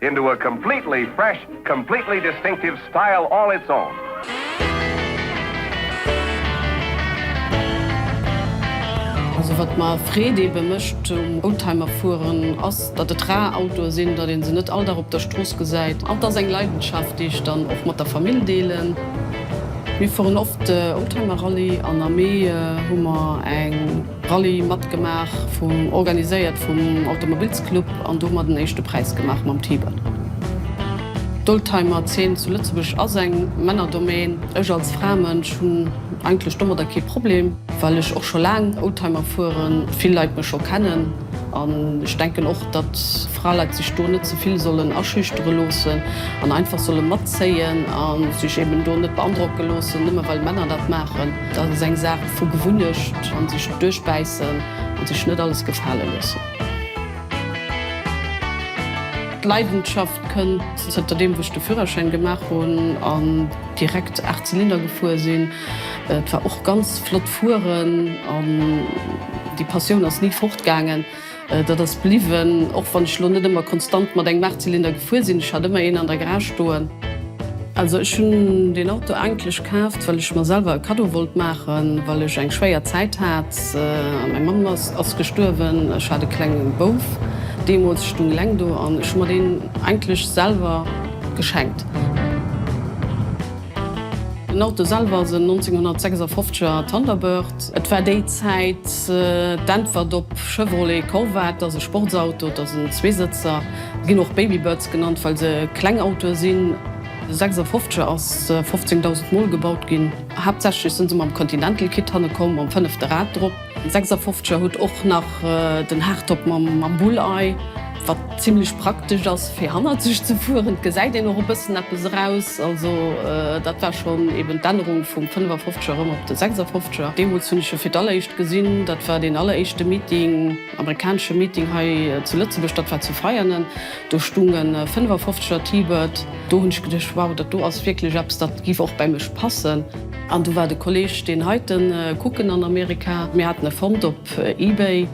Into a completely fresh, completely distinctive style all its own. Also wat mer Freed eben mecht um Oldtimer fueren ass dat et rar Autoen sinn, dat een se net all Dag op der Strooss gesäit. An et ass eng Leidenschaft déi ech dann och mat der Famill deelen. Mir fueren oft Oldtimer Rallye an am Mee hu mer eng Rallye matgemaach, vum organiséiert vum Automobilsclub an do mer den éischte Präis gemaach mam T-Bird. D'Oldtimer Zeen zu Lëtzebuerg ass eng Männerdomaine. Ech als Fraemënsch hunn eigentlech domadder kee Problem, well ech och scho laang Oldtimer fueren, vill Leit mech scho kennen an ech denken och, datt Fraleit sech do net zevill sollen aschüchtere loossen an einfach solle matzéien a sech eben do net beandrocke loossen, nëmme well Männer dat maachen. Dat ass eng Saach vu Gewunnecht an sech duerchbäissen an sech net alles gefale loossen. D'Leidenschaft kënnt zënter deem wou ech de Führerschäin gemaach hunn an direkt 8 Zylinder gefuer sinn. Et war och ganz flott fueren an déi Passioun ass ni fort gaangen. Dat ass bliwwen, och wann ech elo net ëmmer konstant mat engem Achtzylinder gefuer sinn. Ech hat ëmmer een an der Garage stoen. Also ech hunn deen Auto eigentlech kaaft, well ech mer selwer e Kaddo wollt maachen, well ech eng schwéier Zäit hat. Meng Mamm ass gestuerwen, ech hat e klenge Bouf deemools, ech stung eleng do an ech hu mer deen eigentlech selwer geschenkt. Den Auto selwer ass en 1956 er Thunderbird. Et war déi Zäit d'Äntwert op Chevrolet Corvette, ass e Sportsauto, et ass en Zweesëtzer. Se ginn och Babybirds genannt, well se kleng Autoe sinn. De 56 er ass 15.000 Mol gebaut ginn. Haaptsächlech si se mam Continental Kit hanne komm, mam fënnefte Rad drop. Sechsafofzeger huet och nach den Hardtop mam Bullei, wat zimlech praktesch ass fir hannerzeg ze fueren. Et gesäit een och e bëssen eppes eraus. Also dat war schonn eben d'Ännerung vum Fënnefafofzeger erëm op de Sechsafofzeger. Deemools hunn ech e fir d'alleréischt gesinn. Dat war deen alleréischte Meeting, amerikanesche Meeting hei zu Lëtzebuerg. Dat war zu Veianen. Do stung e Fënnefafofzeger T-Bird. Do hunn ech geduecht, wow, dat do ass wierklech eppes, dat giff och bäi mech passen. An du war de Kolleg deen heiten kucken an Amerika. Mir haten e fonnt op eBay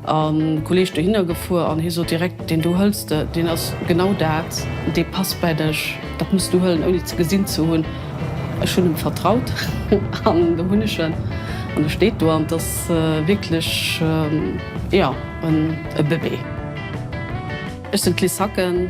an Kolleg dohinner gefuer an hie sot direkt, deen do hëlls de, deen ass genau dat, dee passt bäi dech, dat muss du hëllen ouni ze gesinn ze hunn. Ech hunn em vertraut an do hunn ech en an e steet do an et ass wierklech jo e Bëbee. Ech sinn d'Liz Hacken.